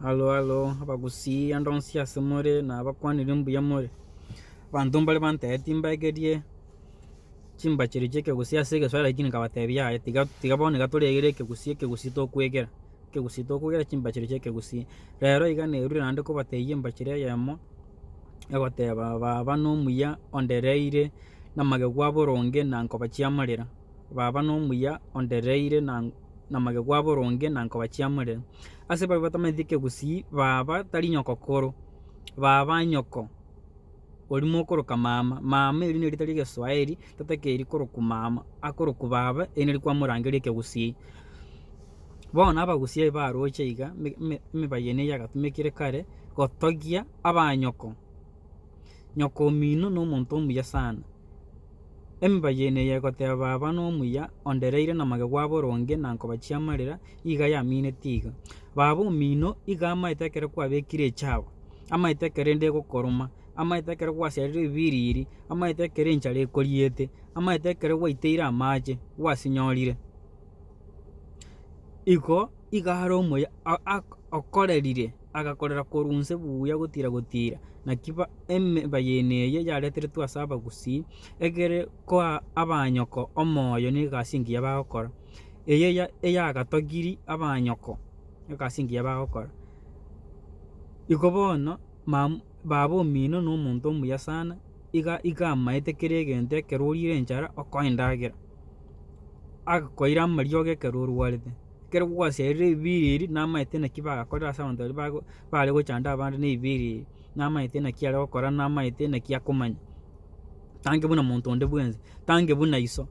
Alo alo abagusii ande onsi ase more na abakwanire mbuya more, abanto mbare bantere timbaekerie chimbacherio chia ekegusii ase egesoera lakini nkabatebia yaya tiga tiga bono iga toregere ekegusii ekegusii tokwegera, ekegusii tokwegera chimbacherio chia ekegusii. Rero iga nerure naende kobatebia embachera eyemo egoteba baba nomuya ondereire na magegu aboronge na nkoba chiamarera. Baba nomuya ondereire na namagego aboronge na nkobachiamore. Ase babe batamanyeti kegusii baba tari nyoko koro baba nyoko ori mokoroka mama. Mama eri nerita ria egeswaeri tatakeri korokwa mama akorokwa baba eri nari kwamorangeria ekegusii. Bono abagusia aba baroche iga ime ime emibaye ene yagatumekire kare gotogia abanyoko. Nyokomino nomonto omuya sana. Emiba yaino eye egoteba baba nomuya ondereire na magego aboronge na nkoba chiamarera iga yamineti iga. Baba omino iga amaete ekero kwabekire echago, amaete ekero ende egokoroma, amaete ekero gwaserire ebibiriri, amaete ekero enchara ekoriete, amaete ekero gwaiteire amache gwasinyorire. Igo iga are omuya okorerire. agakorera korwa onse buya gotira gotira, naki emeba y'ene eye yareteretwe ase abagusii, egere koa abanyoko omoyo negasi engiya bagokora, eye eyagatogiri abanyoko egasi engiya bagokora. Iko bono mam baba omino na omonto omuya sana, iga iga amaete kera egento ekero orire enchara okoe endagera, akoira amariogo ekero orwarete. Ekero gwaseririe ebiiri ebi namaete naki bagakorire ase abanto baria bago bare gochanda abande na ebiiri ebi, namaete naki are gokora namaete naki akomanya. Tange buna monto onde bwensi, tange buna iso,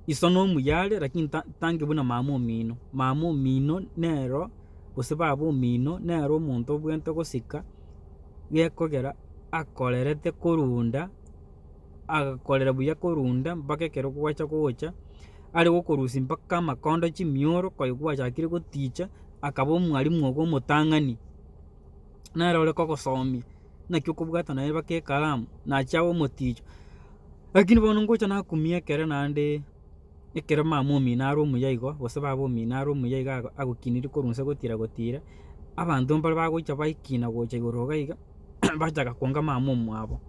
iso na omuya are lakini ta tange buna mama omino, mama omino nero gose baba omino nero omonto obwenerete gosika gekogera akorerete korwa unda. agakorera buya korunda mpaka ekero gwacha gocha, are gokorusia mpaka amakondo chimioro koyi gwachakire goticha, akaba omwalimu ogo omotang'ani. Nere ore kogosomia, naki okobwata naye mpaka ekalamu, nachi abe omoticho. Lakini bono ngocha nakumia ekero naende, ekero mama omino are omuya igo, gose baba omino are omuya iga ago agokinirie korwa inse gotira gotira, abanto mbare bagocha baikina gocha igoro iga iga, bachaka kwanga mama omwabo.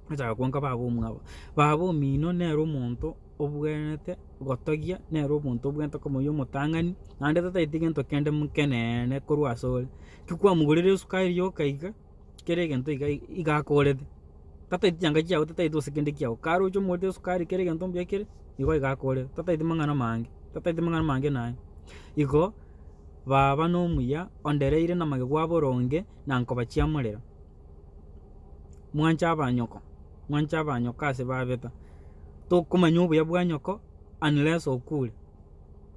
Bachaka kwanka baba omwabo, baba omino nere omonto obwenerete gotogia, nere omonto obwenerete komoyia omotang'ani, naende totaeti gento kende mokeneene korwa asore. Tikwamogorera esukari yoka iga, kera egento iga iga akorete, totaeti chianga chiago totaeti gose kende kiago, kare oche omorete esukari kera egento mbuya kere, igo iga akorete, totaeti mang'ana amange, totaeti mang'ana amange naye. Igo baba nomuya ondereire namagego aboronge na nkobachiamorera. mwanche abanyoko, mwanche abanyoko ase babeta, tokomanya obuya bwa nyoko unless okure,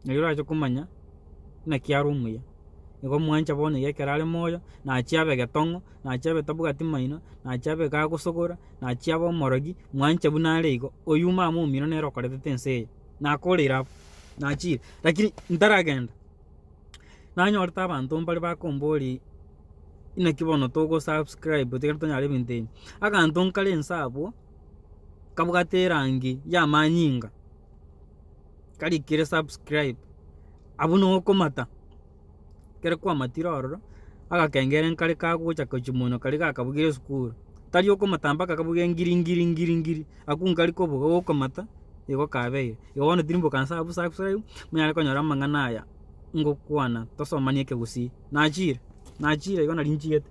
erio orache komanya naki are omuya, nigo mwancha bono iga ekero are moyo, nachi abe getong'o, nachi abe tabwati maino, nachi abe kagosogora, nachi abe omorogi, mwanche buna are igo, oyume amo omino nere okoretete ense eye, nakoreire abwo, nachire, lakini ntaragenda. Nanyorete abanto mbare bakombori inaki bono togo subscribe tiga tonyare ebinto ebi, aganto nkare inse abwo kabwate erangi ya amanyinga karikire subscribe abwo nigo okomata ekero kwamatire ororo agakengere nkare kagocha gochia monwe karia gakabugire esukuru tari okomata mpaka kabuge ngiri ngiri ngiri ngiri. Akungari koboga gokomata igo kabeire. Igo bono tiri mboka nsa abu subscribe munyare konyora amang'ana aya ngokwana tosomanie ekegusii. Nachire nachire igo nari nchigete.